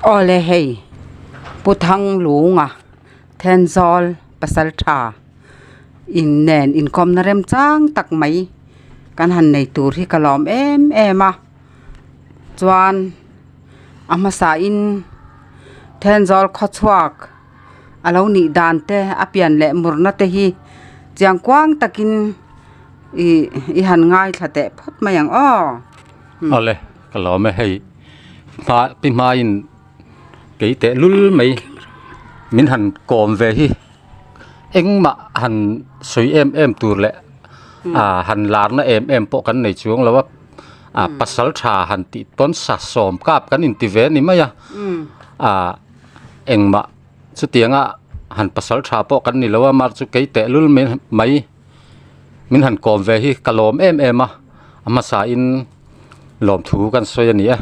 Aw le hei, Pu Thang Lunga Thenzawl pasal tha in nen inkawmna remchang tak mai kan han nei tur hi ka lawm em em a. chuan a hmasa in thenzawl khaw chhuak a lo nih dan te a pian leh mur na te hi chiang kuang tak in ih i han ngai thla teh phawt mai ang aw. A le ka lawm e hei hma pi hma in kei teh lul mai min han kawm ve hi eng mah han sawi em em tur leh a han lar na em em pawh kan nei chuang lo a. ah pasal tha han tih tawn sa sawm kap kan inti ve ni mai a ah engmah chutianga han pasal tha pawh kan ni lo a mar chu kei tehlul mai min han kawm ve hi ka lawm em em a a hmasa in lawmthu kan sawi a ni e.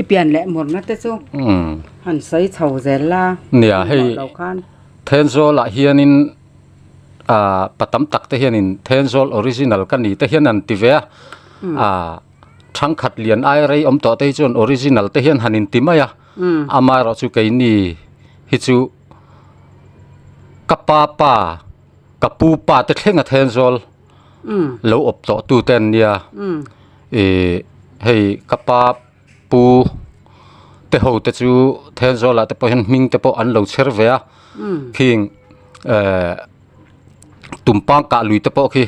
I pian leh mawrhna te chu han sawi chho zel la nia hei Thenzawl ah hianin. ahh pa tam tak te hianin Thenzawl original ka ni te hian an ti ve a, ahh thangkhat lian ai rei awm tawh te hi chuan original te hian han inti mai a, amaherawh chu keini hi chu ka pa pa ka pu pa te thlenga Thenzawl lo awp tawh tute an nia, ihh hei ka pa. Pu teho te chu Thenzuala te pawh hian hming te pawh an lo chher ve a khing eh Tumpang kah lui te pawh khi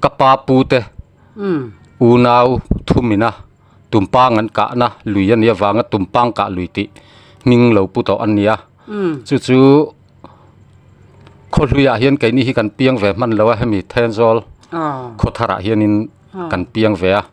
ka pa pu te unau thumina Tumpang an kah na lui a ni avanga Tumpang kah lui tih hming lo pu tawh an nia chu chu khaw hluiah hian keini hi kan piang ve hman lo a hemi Thenzual khawthar ah hian in kan piang ve a.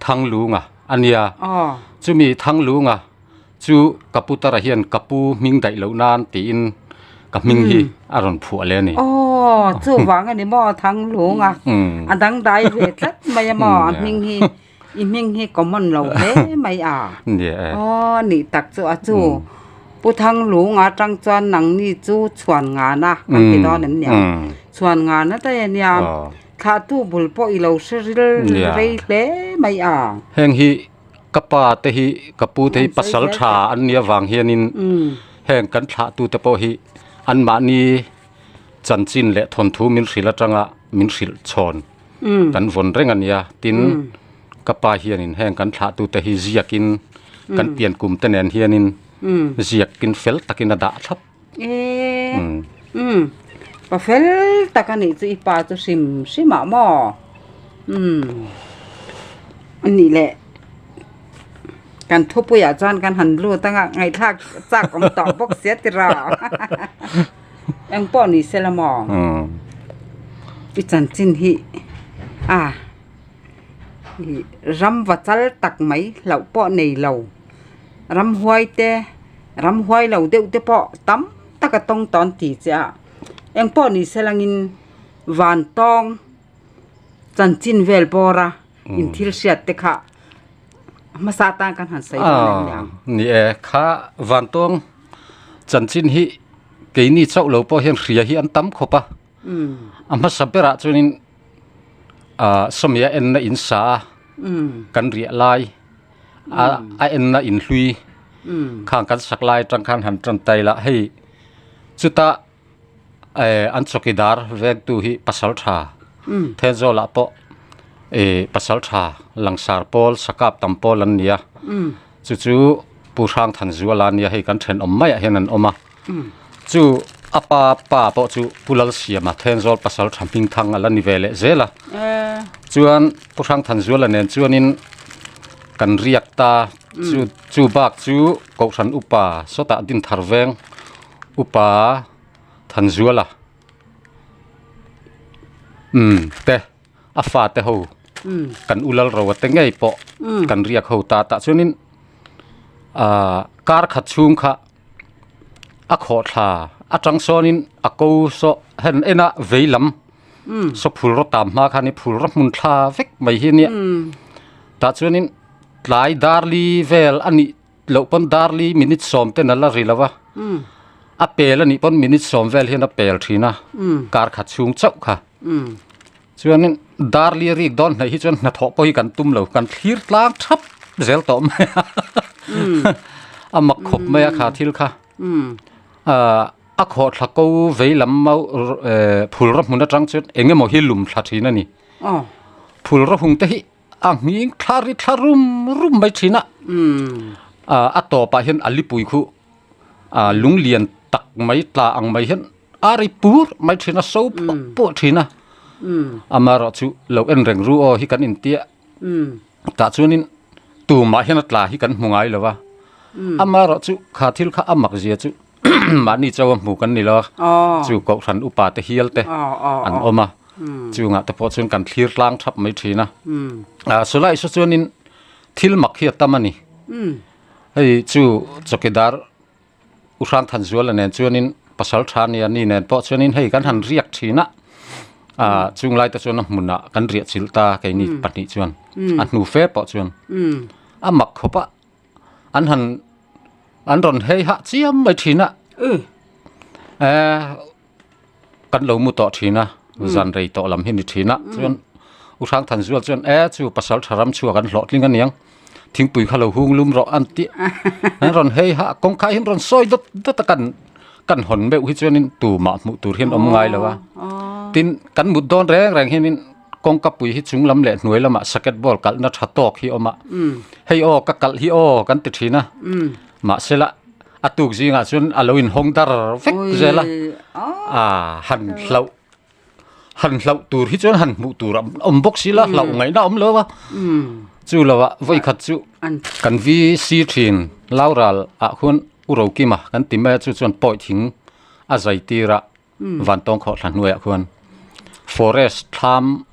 Thanglunga a nia, chumi Thanglunga chu ka putar ah hian ka pu hming daih loh nan tiin ka hming hi a rawn phuah leh a ni. Aww chuvang a ni maw Thanglunga a dang dai ve tlat mai a maw a hming hi i hming hi common lo hle mai a, aww ni tak chu a chu Pu Thanglunga atang chuan nang ni chu Chhuan Ngana kan ti dawn em ni ang, Chhuan Ngana daih a nia. Thlahtu bul pawh i lo hre ril rei hle mai a. Heng hi ka pa te hi ka pu te hi pasal tha an nia vang hian in heng kan thlahtu te pawh hi an mah ni chanchin leh thawn thu min hrilh atang a min hrilh chhawn kan vawn reng a nia tin ka pa hian in heng kan thlahtu te hi ziak in kan pian kum te nen hian in ziak in fel tak in a dah thlap. Eee umm pa fel tak a nih chu i pa chu hrim hrim ah maw umm a nih leh kan thupui ah chuan kan han lut ang a ngaihthlak chak awm tawh bawk sia tira engpawh ni se la maw i chanchin hi a ram va chal tak mai hlauh pawh nei lo. ramhuai te ramhuai lo deuh te pawh tam taka tawng tawn ti chiah a eng pawh ni se lang in vantawng chanchin vel bawra in thil hriat te kha hmasa tan kan han sawi dawn em ni ang ni e kha vantawng chanchin hi keini chauh lo pawh hian hria hi an tam khawp a. A hmasa berah chuanin Sawmia enna in sa kan riah lai a enna in hlui kha kan sak lai atang khan han tan ta ila hei chuta an chawkidar veng tu hi pasal tha Thenzawl ah pawh pasal tha langsar pawl sakap tam pawl an nia. Chu chu Pu Hrangthanzu a la nia, hei kan thenawm maiah hian an awm a. Chu a pa pa pawh chu Pu Lalsiama, Thenzawl pasal tha hming thang a la ni ve leh zel a. Chuan Pu Hrangthanzu la nen chuanin kan riak ta, chu chu bak chu Kohhran upa sawtah din thar veng upa Thanzuala umm te. A fate ho kan u lal ro ate ngei pawh kan riak ho ta tah chuanin ah kar khat chhung kha a khawh thla a chang sawnin a ko saw hen ena vei lam saw phul rawh tam hma khan i phul rawh hmun thla vek mai hi nia tah chuanin tlai darli vel a nih loh pawn darli minute sawm ten ala ri lova a pel anih pawn minute sawm vel hian a pel thin a kar khat chhung chauh kha chuanin darli a rik dawn hnaih hi chuan hnathawh pawh hi kan tum lo kan thlir tlang thap zel tawh mai a a mak khawp mai a kha thil kha a khawh thla ko vei lam mau phul rawhmun atang chuan engemaw hi lum thla thin ani phul rawhung te hi a nghing thlar ri thlar rum rum mai thin a ah a tawpah hian a lipui khuh ah lung lian tak mai tla ang mai hian a ri pur mai thin a so phuah phuah thin a amarawh chu lo en reng ru aw hi kan intia tah chuanin tumah hian a tla hi kan hmu ngai lo va amarawh chu kha thil kha a mak zia chu mahni chaua hmuh kan ni lo a chu Kohhran upa te hial te an awm a chungah te pawh chuan kan thlir tlang thap mai thin a Sawlai saw chuanin thil mak hi a tam a ni hei chu chawkidar U Hrangthanzuala nen chuanin Pasaltha nia ni nen pawh chuanin hei kan han riak thin a chunglai te chuan a hmunah kan riahchilh ta keini pahnih chuan a hnu fe pawh chuan a mak khawp a. an han an rawn hei hah chiam mai thin a eh kan lo mu tawh thin a zan rei tawh lam hi ni thin a chuan u hrang than zual chuan e chu pasal tha ram chhuak an hlawh tling a niang thingpui kha lo hung lum rawh an tih an rawn hei hah kawngkhai hi an rawn sawi dawt dawt a kan kan hawn meuh hi chuan in tumah hmuh tur hi an awm ngai lo a tin kan mut dawn reng reng hian in Kawngkapui hi chung lam leh hnuai lamah saket ball kalhna tha tawk hi awm a, hei aw ka kalh hi aw kan ti thin a, mahsela a tuk zingah chuan a lo in hawng dar vek zel a, aah han hlauh han hlauh tur hi chuan han hmuh tur a awm bawk si la hlauh ngaihna a awm lo va, chu lo ah vawi khat chu kan vi sir thin Laural ah khuan U Rokima kan ti mai a chu chuan pawih thing a zai tir a. Vantawng khawhthla hnuaiah khuan forest thlam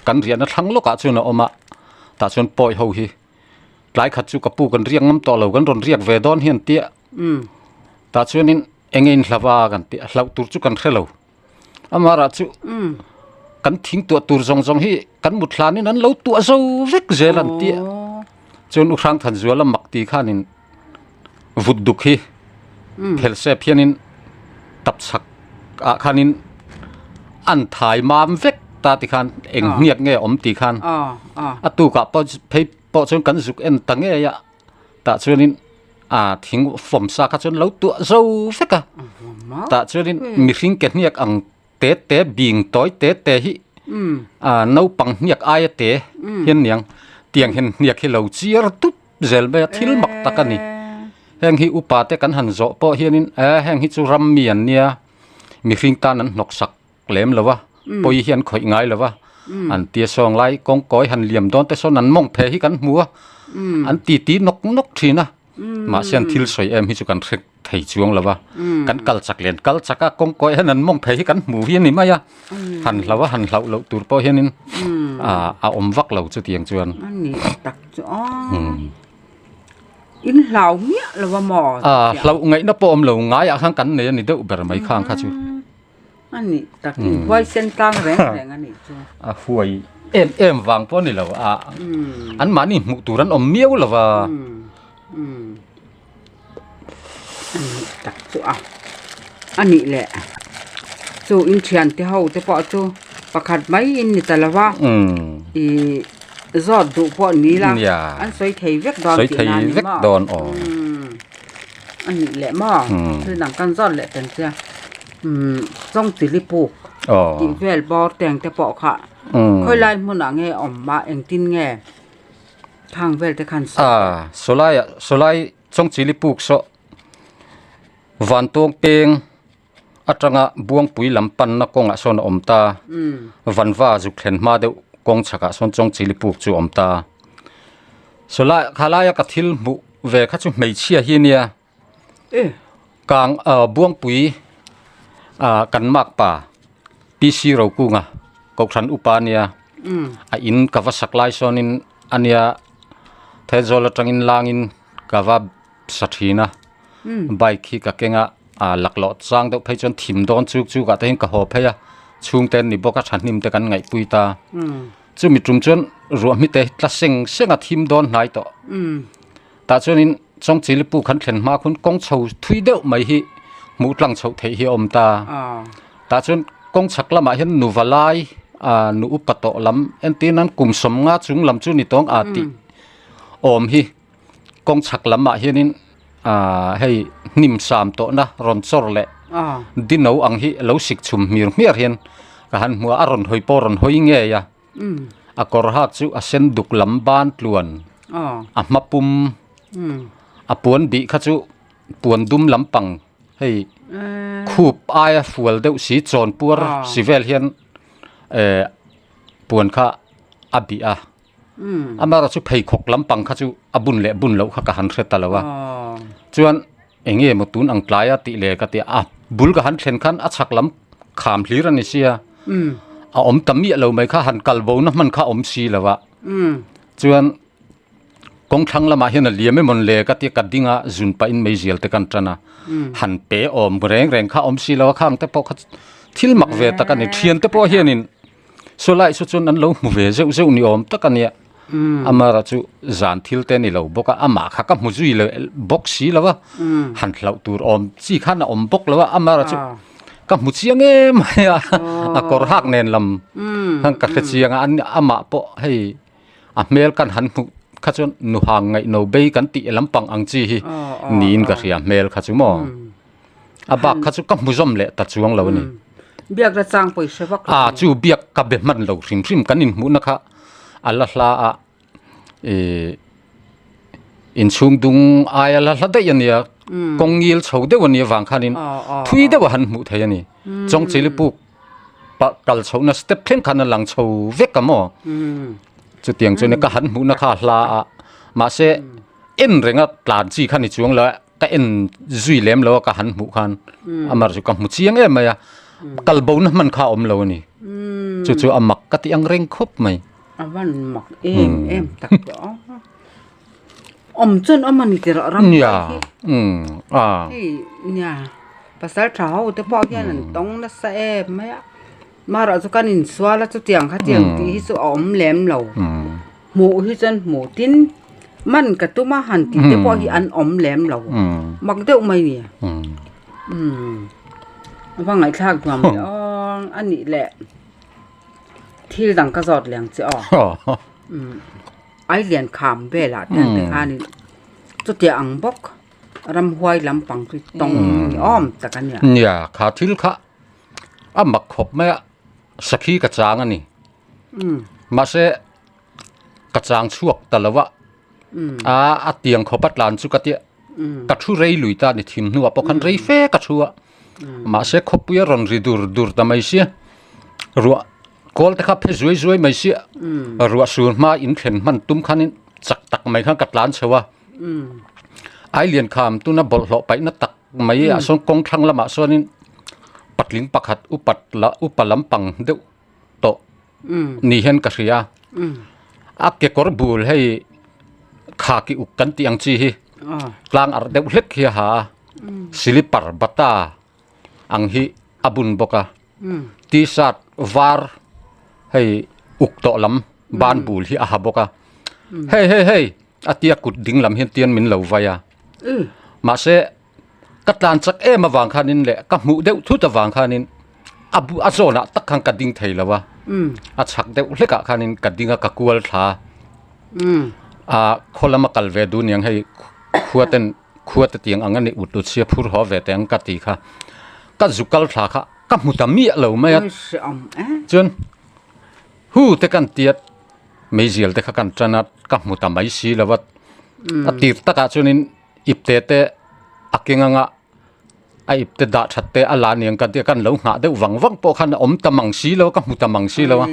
kan riahna thlang lawkah chuan a awm a, tah chuan pawi ho hi tlai khat chu ka pu kan riak ngam tawh lo kan rawn riak ve dawn hian ti a, tah chuanin eng nge in hlava kan tih a, hlauh tur chu kan hre lo, amarah chu kan thing tuah tur zawng zawng hi kan mut hlanin an lo tuah zo vek zel an ti a, chuan u Hrangthanzuala mak ti khanin vut duk hi phelsep hianin tap chhak ah khanin an thai mam vek ta ti khan eng hniat nge awm ti khan a tukah pawh phei pawh chuan kan zuk en ta ngei a tah chuanin a thing fawm sa kha chuan lo tuah zo vek a tah chuanin mihring ke hniak ang te te bing tawi te te hi a naupang hniak aia te hian niang tiang hian hniak hi lo chiar dup. zel mai a thil mak tak a ni heng hi upa te kan han zawh pawh hian in a heng hi chu ram mi an nia mihring tan an hnawk sak lem lo va pawi hian khawih ngai lo va an tia sawng lai kawng kawi han liam dawn te sawn an mawng phe hi kan hmu a an titi nawk nawk thin a mahse an thil sawi em hi chu kan hre-- thei chuang lo va kan kal chak lian kal chak a kawng kawi hian an mawng phei hi kan hmu hi a ni mai a han hlau a han hlau loh tur pawh hianin ah a awm vak lo chutiang chuan in hlau miah lo va maw ah hlau ngaihna pawh awm lo ngaiah khan kan nei a ni deuh ber mai khang kha chu. a nih takin huaisen tlang reng reng a nih chu. A huai em em vang pawh a ni lo a, an mahni hmuh tur an awm miau lo va. A nih tak chu a, a nih leh chu in thiante ho te pawh chu pakhat mai in ni ta lova ih zawt duh pawh ni ila an sawi thei vek dawn tihna a ni maw. a nih leh maw thil dang kan zawt leh ten chuan chawngpili puk tih vel bawr teng te pawh kha khawilai hmunah nge awm mah engtin nge thang vel te khan sawi a. Sawlai chawngchili puk sawh vantawng peng. atanga buangpui lam panna kawngah sawn a awm ta, vanva zuk thlen hma deuh kawng chhakah sawn Chawngchili puk chu a awm ta. Saw lai kha laia ka thil hmuh ve kha chu hmeichhia hi nia kang buangpui kan makpa PC Rokunga Kohhran upa nia a in ka va sak lai sawnin a nia Thelzawl atangin langin ka va sa thin a, bike hi ka keng a. Aa lak loh chang deuh phei chuan thim dawn chuk chuk ah te hian ka haw phei a, chhung te an ni bawk a, tha hnim te kan ngaihpui ta. Chumi tum chuan ruahmi te hi tla seng seng a thim dawn hnai tawh. Tah chuan in Chawngchili pu khan thlen hma khun kawng chho thui deuh mai hi hmuh tlang chhoh theih hi a awm ta. Tah chuan kawng chhak lam ah hian nuva lai aa nu upa tawh lam entir nan kum sawm nga chung lam chu ni tawng aa tih awm hi. Kawng chhak lam ah hian in ah hei hnim sam tawh na rawn chawr leh dino ang hi lo sik chhum hmir hmiar hian ka han hmu a a rawn hawi pawh rawn hawi ngei a a kawr hak chu a sen duk lam ban tluan a hma pum a puan bih kha chu puan dum lam pang hei khup aia fual deuh si chawn puar si vel hian eh puan kha a bih a. Amara chu pheikhawk lampang kha chu a bun leh bun loh kha ka han hre ta lo a, chuan enge maw tun ang tlai a tih leh ka ti a, bul ka han thlen khan a chhak lam kham hlir a ni sia, a awm ta miah lo mai kha han kal bo na hman kha a awm si lo a, chuan kawng thlang lam ah hian a liam emawni le ka ti a, ka ding a zun pah in mai zial te kan tan a, han pe awm reng reng kha a awm si lo a, khang te pawh kha thil mak ve tak a ni, thian te pawh hian in. Saw lai saw chun an lo hmu ve zeuh zeuh ni awm tak a nia. Amara chu zan thil te a ni lo bawk a, amah kha ka hmu zui leh bawk si lo a, han hlauh tur awm chi khan a awm bawk lo a, Amara chu ka hmu chiang em mai a, a kawr hak nen lam khan ka hre chiang a, amah pawh hei a hmel kan han hmuh kha chuan nuhang ngaihno bei kan tih lampang ang chi hi niin ka hria hmel kha chu maw. a bak kha chu ka hmu zawm leh ta chuang lo a ni. Biak la chang pawih hre vak lo. A chu biak ka be hman lo hrim hrim kan inhmuhna kha a la hla a, ih inchhung dung aia la hla daih a nia, kawng ngil chho deuh a nia vang khanin thui deuh a han hmuh theih a ni. Chawng chili puk pah kal chhohna step thleng khan a lang chho vek a maw, chutiang chuan ka han hmuhna kha a hla a, mahse en renga tlan chi kha ni chuang lo a, ka en zui lem lo a ka han hmuh khan amar chu ka hmu chiang em mai a kal bo na hman kha awm lo ani chu chu a mak ka tih ang reng khawp mai a van mak em em tak tawh ang a awm chuan awm ani tih rah rang mai hi a hei nia pasal tha ho te pawh hian an tawng nasa em mai a. Mara chu kan insual a chutiang khatiang tih hi chu a awm lem lo. Hmuh hi chuan hmu tin man ka tum a han tih te pawh hi an awm lem lo. Mak deuh mai nia. A va ngaihthlak nuam leh awng a nih leh. Thil dang ka zawt leng che aw. Ai lian kham velah te ang te khanin chutia ang bawk. Ramhuai lampang chu tawng ni awm tak a nia. Nia, kha thil kha. a mak khawp mai a sakhi ka chang a ni mahse ka chang chhuak ta lo a aa a tiang khawpa tlan chu ka ti a ka thu rei lui ta a ni thim hnua pawh khan rei fe ka thu a mahse khawpui a rawn ri dur dur ta mai sia ruah kawl te kha phe zuai zuai mai sia ruah sur hma in thlen hman tum khan in chak tak mai khan ka tlan chho a ai lian kham tuna bawlh hlawh paihna tak-- mai ah sawn kawng thlang lamah sawn in patling pakhat upat lah upa lampang deuh tawh ni hian ka hria a kekawr bul hei khaki uk kan tih ang chi hi tlang arh deuh hlek hi a ha a silipar bata ang hi a bun bawk a tshirt var hei uk tawh lam ban bul hi a ha bawk a hei hei hei. a tia kut ding lam hian tian min lo vai a mahse ka tlan chak em avang khanin leh ka hmuh deuh thut avang khanin a bu a zona tak khan ka ding thei lo a a chak deuh hlek ah khanin ka ding a ka kual thla a khaw lama kal ve du niang hei khua ten khua te tiang ang a nih uttut sia phur haw ve teh ang ka ti kha ka zu kal thla kha ka hmu ta miah lo mai a chuan hu te kan tia Meizial te kha kan tan a ka hmu ta mai si lo vat a tir tak ah chuan in ip te te a keng ang a a ip te dah that te a la niang kan tia kan lo nghah deuh vang vang pawh khan awm ta mang si lo ka hmu ta mang si lo a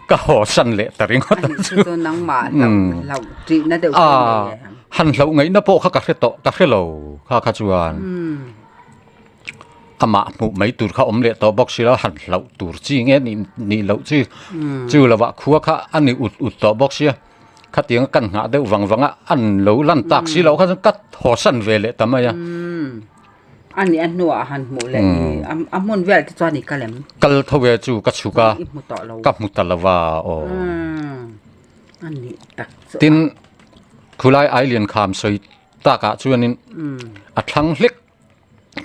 ka haw san leh ta ring awt a chu chu nang mah hlauh hlauh tih na deuh tawh mai e han hlauh ngaih na pawh kha ka hre tawh ka hre lo kha kha chuan amah hmuh mai tur kha awm leh tawh bawk sila han hlauh tur chi nge ni nih loh chi chu lova khua kha a ni ut ut tawh bawk sia khatianga kan nghah deuh vang vang a an lo lan tak si loh kha sawn ka haw san ve leh ta mai a a ni a hnuah a han hmuh leh ni a hmun vel te chuan i ka lem kal tho ve chu ka chhuk a i hmu tawh lo ka hmu ta lo va aw a ni tak chu tin khulai ai lian kham sawi takah chuan in a thlang hlek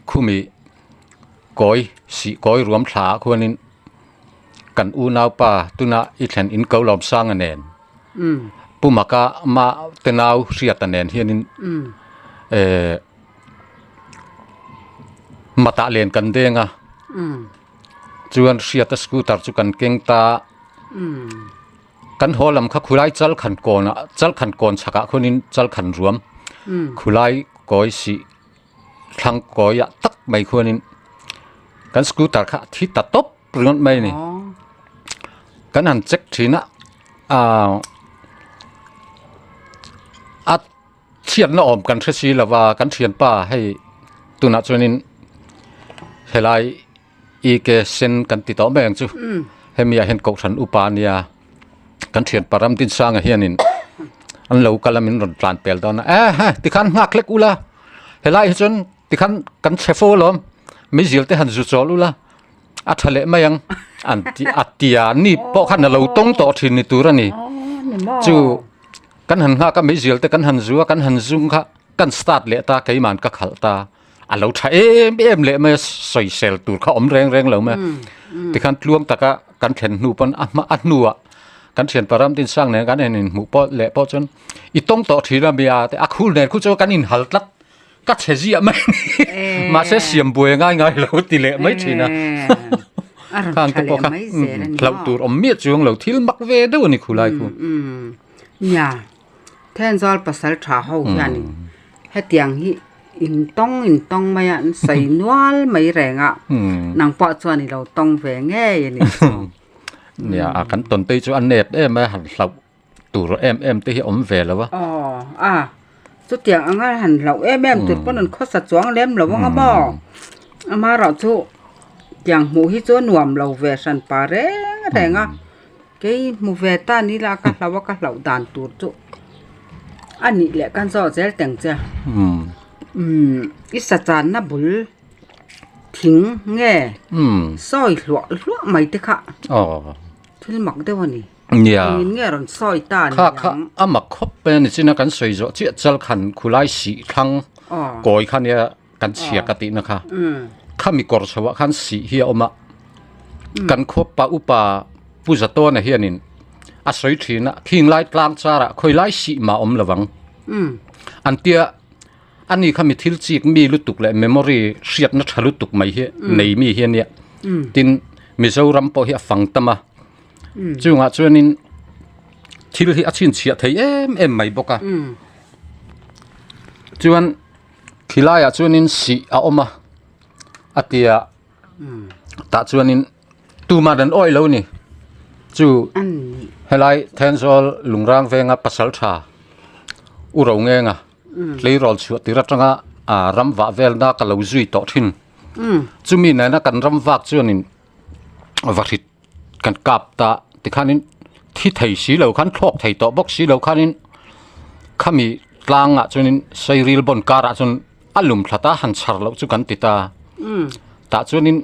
khumi kawi sih kawi ruam thla ah khuan in kan unaupa tuna i thlen in ko lawm sang a nen pu Maka mah te nau hriat a nen hian in eh matah len kan deng a chuan hriata scooter chu kan keng ta. Kan haw lam kha khulai chal khan kawn ah chal khan kawn chhak ah khun in chal khan ruam khulai kawi sih thlang kawi ah tak mai khun in kan scooter kha thi ta top ringawt mai ni kan han check thin a a thian na om kan hre si lova kan thian pa hei tunah chuan in helai EK sen kan ti tawh mai ang chu hemi ah hian kohhran upa nia kan thianpa Ramtinsang ah hianin an lo kal a min rawn tlan pel dawn a eehh tikhan nghak hlek ula helai hi chuan tikhan kan chhe fo alawm mizil te han zu chawl ula a tha leh mai ang an ti a ti a ni pawh khan a lo tawng tawh thin ni tur a ni chu kan han nghak a mizil te kan han zu a kan han zung kha kan start leh ta keiman ka khalh ta. a lo tha em em leh mai a sawisel tur kha awm reng reng lo mai a tikhan tluang taka kan thlen hnu pawn a hma a hnua kan thian pa Ramdin sang nen kan en in hmuh pawh leh pawh chuan i tawng tawh thin a mi a a khul nen khu chu kan in hal tlat ka chhe ziah mai ni mahse siam buai ngai ngai lo ti leh mai thin a khang te pawh kha hlauh tur awm miah chuang lo thil mak ve deuh a ni khulai khu nia Then zual pasal tha ho hianin hetiang hi intawng intawng mai a an sawi nual mai reng a, nang pawh chuan i lo tawng ve ngei a nih chu. Nia a kan tawnpui chu a nep em a, han hlauh tur em em te hi awm ve lo a. Aw a, chutiang anga han hlauh em em tur pawh han khawsa chuang lem lo ang a maw? Amaherawhchu tiang hmuh hi chu a nuam lo ve hran pa reng reng a. Kei hmu ve ta ni la ka hlauh a ka hlauh dan tur chu a nih leh kan zawh zel teng che i sachan na bul thing nge sawi hluah hluah mai te kha thil mak deuh a ni min nge rawn sawi ta ni ang kha a mak khawp mai a ni chin a kan sawi zawh chiah chal khan khulai sih thlang kawi kha nia Kan chhia ka tihna kha khami kawr chho ah khan sih hi a awm a, kan khuapa upa Pu Zatawna hian in a sawi thin a, Khinglai tlang char ah khawilai sih mah awm lo vang an ti a, ani kha mi thil chik mi lutuk leh memory hriatna tha lutuk mai hi nei mi hi ania, tin Mizoram pawh hi a fang tam a, chungah chuan in thil hi a chhinchhiah thei em em mai bawk a, chuan. Khilaiah chuanin sih a awm a, a tia tah chuanin tumah dan awih lo ni chu helai Thenzawl Lungrang venga pasal tha U Rongenga tleirawl chhuah tir atanga ram vah velna ka lo zui tawh thin chumi nena kan ram vak chuanin va hrit kan kap ta ti khanin thi thei si lo khan thlawk thei tawh bawk si lo khanin khami tlangah chuanin sairil bawn karah chuan a lum thlata han chhar loh chu kan ti ta tah chuanin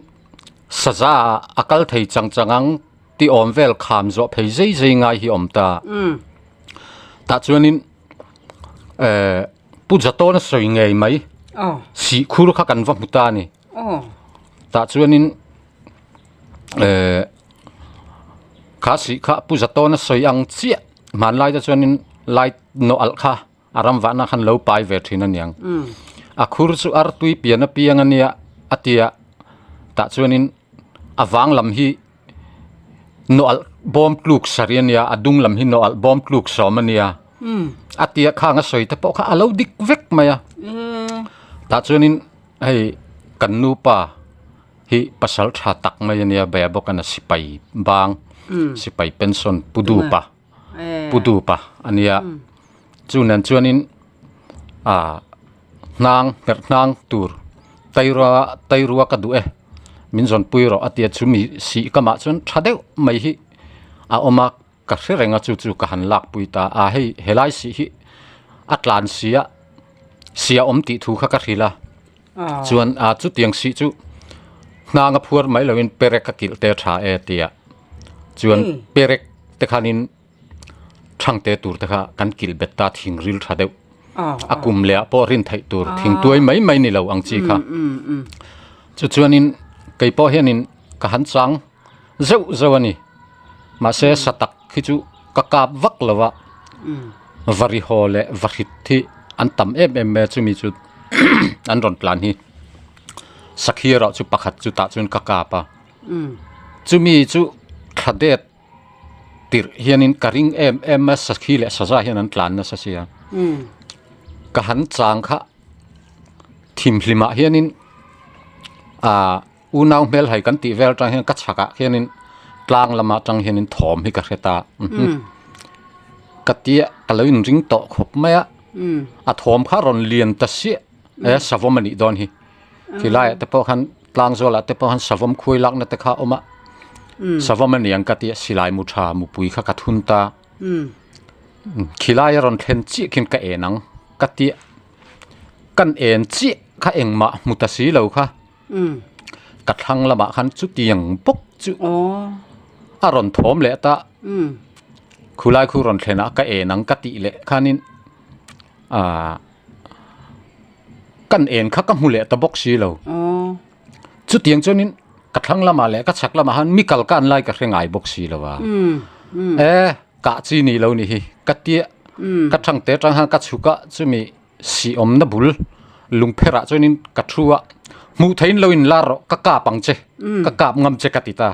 saza a kal thei chang chang ang ti awm vel kham zawh phei zai zai ngai hi awm ta tah chuanin eh pu Zatawna sawi ngei mai sihkhur kha kan va hmu ta a ni. tah chuanin eh kha sih kha pu za tawn a sawi ang chiah hmanlai te chuanin light nawh alh kha a ram vahna khan lo pai ve thin aniang a khur chu artui pian apiang ania a tia tah chuanin a vang lam hi-- Naw alh bawm tluk sarh i a nia, a dung lam hi naw alh bawm tluk sawm a nia, a ti a, khang a sawi te pawh kha a lo dik vek mai a. Tah chuanin hei kan nupa hi pasal tha tak mai a nia, bia bawk a na, sipai bang, sipai pension pu dupa. pu dupa a nia chu nen chuanin ah hnang herh hnang tur tairua tairua ka duh e min zawn pui rawh a tia chu mi sih ka mah chuan tha deuh mai hi a awm a ka hre reng a chu chu ka han lak pui ta a hei helai sih hi a tlan sia siahawm tih thu kha ka hrilh a. Chuan a chutiang sih chu hnanga phuar mai loin perek a kilh te tha e tia chuan perek te khanin thang te tur te kha kan kilh bet ta thingril tha deuh a kum leh ah pawh rin theih tur thing tuai mai mai ni lo ang chi kha chu chuanin kei pawh hianin ka han chang zeuh zeuh a ni. Mahse satak khi chu ka kap vak lo a, va ri haw leh va hrit hi an tam em em mai a chumi chu an rawn tlan hi sakhi erawh chu pakhat chutah chuan ka kap a, chumi chu thla det tirh hianin ka ring em em a sakhi leh saza hian an tlan nasa sia ka han chang kha thim hlimah hianin a Unau hmel hai kan tih vel atang hian ka chhak ah hian in tlang lam atang hian in thawm hi ka hre ta ka ti a ka lo in ring tawh khawp mai a a thawm kha rawn lian ta siah e savam anih dawn hi ti lai ah te pawh khan tlang zawlah te pawh khan savam khuai lak na te kha a awm a savam aniang ka ti a silai mu tha mu pui kha ka thun ta khilai a rawn thlen chiah khin ka en ang ka ti a kan en chiah kha engmah hmu ta si lo kha Ka thlang lamah khan chutiang bawk chu a rawn thawm leh ta. Khulai khu rawn thlen ah ka en ang ka tih leh khan in ah kan en kha ka hmu leh ta bawk si lo. Chutiang chuan in ka thlang lama leh ka chhak lamah han mi kal kan lai ka hre ngai bawk si lo a. Eh kah chi ni lo ni hi ka tia ka thangte atang han ka chhuk a chumi. siawmna bul lung pherah chuan in ka thu a hmuh theih in lo in lar rawh ka kap ang che ka kap ngam che ka ti ta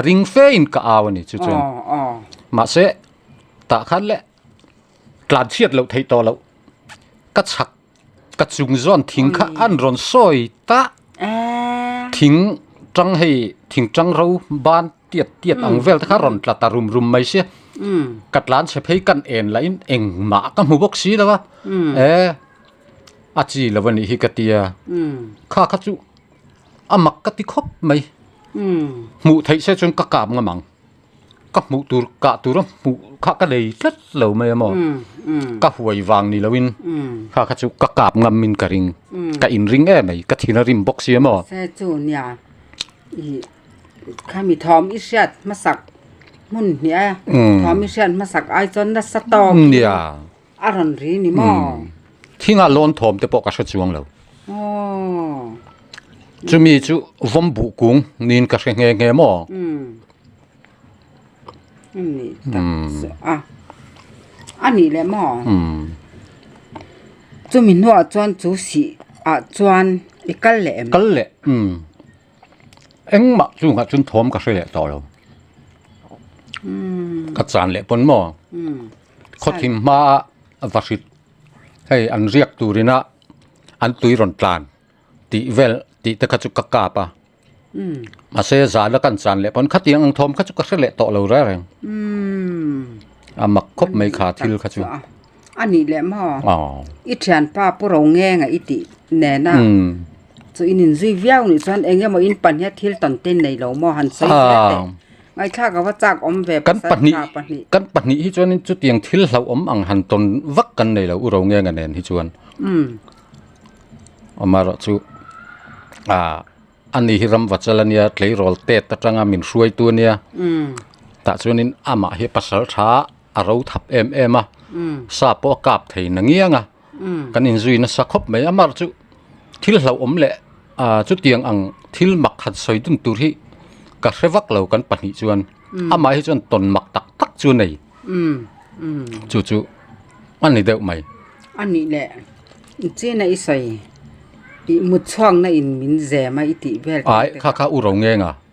ring fe in ka au a ni chu chuan mahse tah khan le tlan chhiat loh theih tawh loh ka chak ka chung zawn thing kha an rawn sawi ta thing tang hei thing tang ro ban Tiat tiat ang vel te kha rawn tla ta rum rum mai se ka tlan chhe phei kan en lah in eng mah ka hmu bawk si lo a eh a chi lo anih hi ka tia kha kha chu a mak ka ti khawp mai hmuh theih se chuan ka kap ngam ang ka hmuh tur kah tur a hmuh kha ka nei tlat lo mai a maw ka huai vang ni lo in kha kha chu ka kap ngam in ka ring ka in ring em mai ka thin a rim bawk si a maw. Kha mi thawm i hriat hmasak hmun hnih a, thawm i hriat hmasak ai chuan nasa tawk in a rawn ri ni maw? Thingah lawn thawm te pawh ka hre chuang lo. Chumi chu vawm buh kung niin ka hre nghe nghe maw? A nih taksa a, a nih leh maw? Chumi hnuah chuan chu sih ah chuan i kal leh em? Kal leh. engmah chungah chun thawm ka hre leh tawh lo ka chan leh pawn maw khawthim hmaa va hrit hei an riak turin a an tui rawn tlan tih vel tih te kha chu ka kap a mahse zan a kan chan leh pawn khatiang ang thawm kha chu ka hre leh tawh lo reng reng a mak khawp mai kha thil kha chu. A nih leh maw? I thianpa pu ro nge ngei i tih nena chu in inzui viau nih chuan eng emaw in pahniha thil tawn te in nei lo maw han sawi hle teh. Ngaihtlak ava chak awm ve pasal tha pahnih. Kan pahnih hi chuan chutiang thil hlauh awm ang han tawn vak kan nei lo u ro nge nge nen hi chuan. Amarawh chu ani hi ram vachal ania tleirawl tet atanga min hruaitu ania tah chuan in amah hi pasal tha. a ro thap em em a sa pawh a kap thei na ngiang a kan in zui nasa khawp mai a mar chu thil hlauh awm leh ahh chutiang ang thil mak khat sawi dun tur hi ka hre vak lo kan pahnih chuan amah hi chuan tawn mak tak tak chu a nei chu chu a ni deuh mai a nih leh chin a i sawi i mutchhuak na in min zem a i tih vel kha kha u ro ngeng a.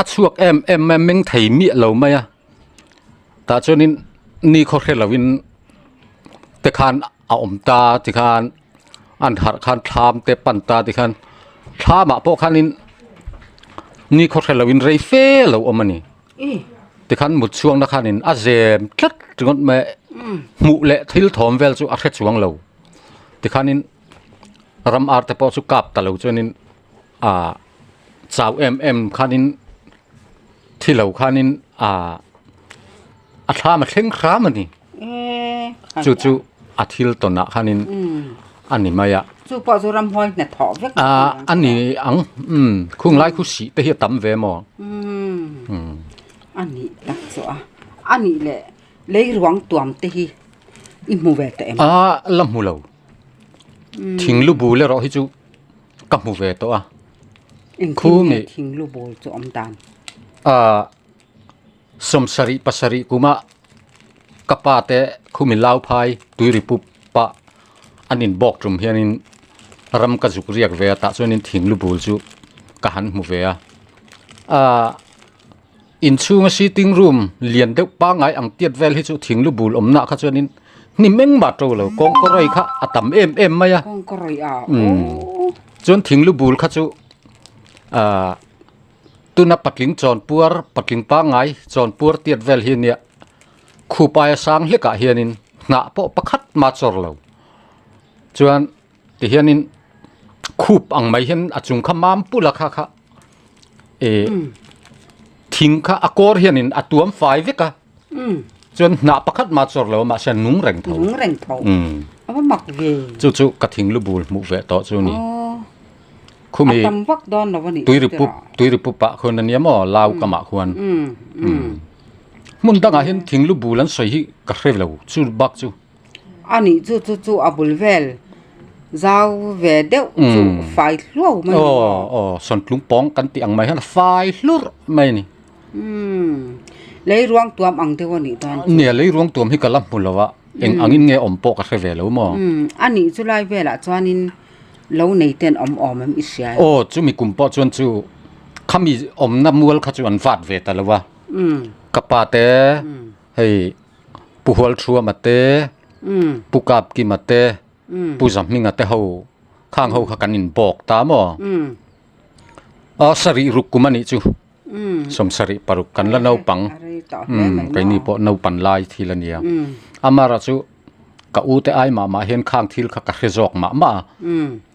A chhuak em em mai a meng thei miah lo mai a tah chuanin ni khaw hre lovin te khan a awm ta ti khan an harh khan thlam te pan ta ti khan thlamah pawh khanin ni khaw hre lovin rei fe lo awm a ni ti khan mut chhuakna khanin a zem tlat ringawt mai a hmuh leh thil thawm vel chu a hre chuang lo ti khanin ram arte pawh chu kap ta lo chuanin. ah chau em em khanin thi lo khanin ah a thlam a thleng hram a ni chu chu a thil tawn ah khanin a ni mai a ah a ni ang khung lai khu sih te hi a tam ve maw ah la hmu lo thing lu bu leh rawh hi chu. ka hmu ve tawh a khu nge thinglu bawl chu awm dan ah sawm sarih pasarih kuma ka pa te khu mi lau phai tui ri pup pah an in bawk tum hian in ram ka zuk riak ve a tah chuan in thinglu bul chu ka han hmu ve a ah Inchhunga sitting room lian deuh pangngai ang tiat vel hi chu thing lu bul awmna kha chuan in hnim eng mah to lo kawngka rawi kha a tam em em mai a kawngka rawi a umm chuan thing lu bul kha chu ah tuna patling chawn puar patling pangngai chawn puar tiat vel hi nia khup aia sang hlekah hian in hnah pawh pakhat mah chawr lo chuan tihianin khup ang mai hian a chung kha mam pula kha kha eh thing kha a kawr hianin a tuam fai vek a chuan hnah pakhat mah chawr lo mahse an nung reng tho nung reng tho a va mak ve chu chu ka thing lu bul hmuh ve tawh chu ni khumi a tam vak dawn lo a ni tui ri pup tui ri pup ah khawn a nia maw lau kam ah khawn hmun dang ah hian thing lu bul an sawi hi ka hre lo chu bak chu. A nih chu chu chu a bul vel zau ve deuh chu fai hluau mai a aw aw sawntling pawng kan tih ang mai hian a fai hlur mai a ni lei ruang tuam ang deuh a nih tan chuan nia lei ruang tuam hi ka la hmu lo a eng ang in nge awm pawh ka hre ve lo maw a nih chu lai vel ah chuan in lo nei ten awm awm an i hria a aw chu mi kum pawh chuan chu khami awm na mual kha chu an vat ve ta lo a ka pa te Hei Pu Hualthuama te, Pu Kap Kima te, Pu Zahminga te ho khang ho kha kan inbawk ta maw? A sarih ruk kum a nih chu. Sawmsarih paruk kan la naupang, keini pawh naupan lai thil a nia. Amara chu ka ute ai mah mah hian khang thil kha ka hre zawk mah mah a.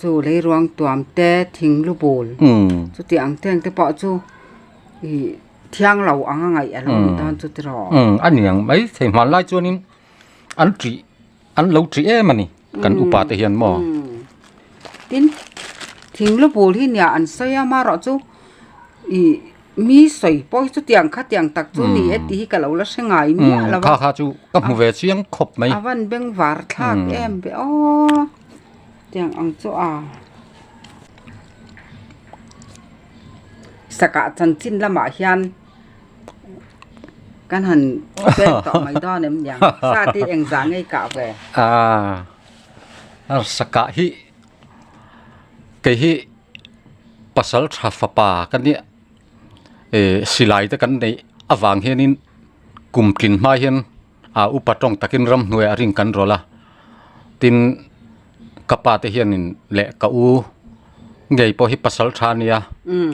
chu lei ruang tuam te thing lu bul chuti ang te ang te pawh chu ih thiang lo ang a ngaih a lo ni dawn chu tiraw a ni ang maithei hman lai chuanin an ṭi an lo ṭi em a ni kan upa te hian maw tin thing lu bul hi nia an sawi a amarawh chu ih mi sawi pawi chuti ang kha tiang tak chu ni e tih hi ka lo la hre ngai miah lo a kha kha chu ka hmu ve chiang khawp mai a van beng var thlak em be aw. Tiang ang chu a. Saka chanchin lamah hian kan han pen tawh mai dawn em niang. Sa ti eng za ngei kah ve. Ah. Ar saka hi kei hi pasal tha fapa ka ni e silai te kan nei avang hianin kumtlin hma hian A upa tawng takin ramhnuaia a ring kan rawlh a, tin ka pa te hianin leh ka u ngei pawh hi pasal tha nia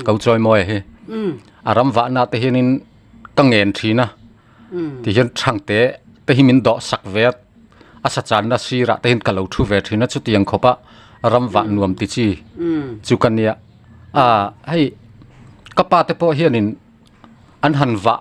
ko chawimawi hi a ram vahna te hianin ka ngen thin a tihian thang te te hi min dawh sak ve a, a sa channa sirah te hian ka lo thu ve thin a chuti ang khawpa ram vah nuam ti chi chu ka nia a hei ka pa te pawh hianin an han vah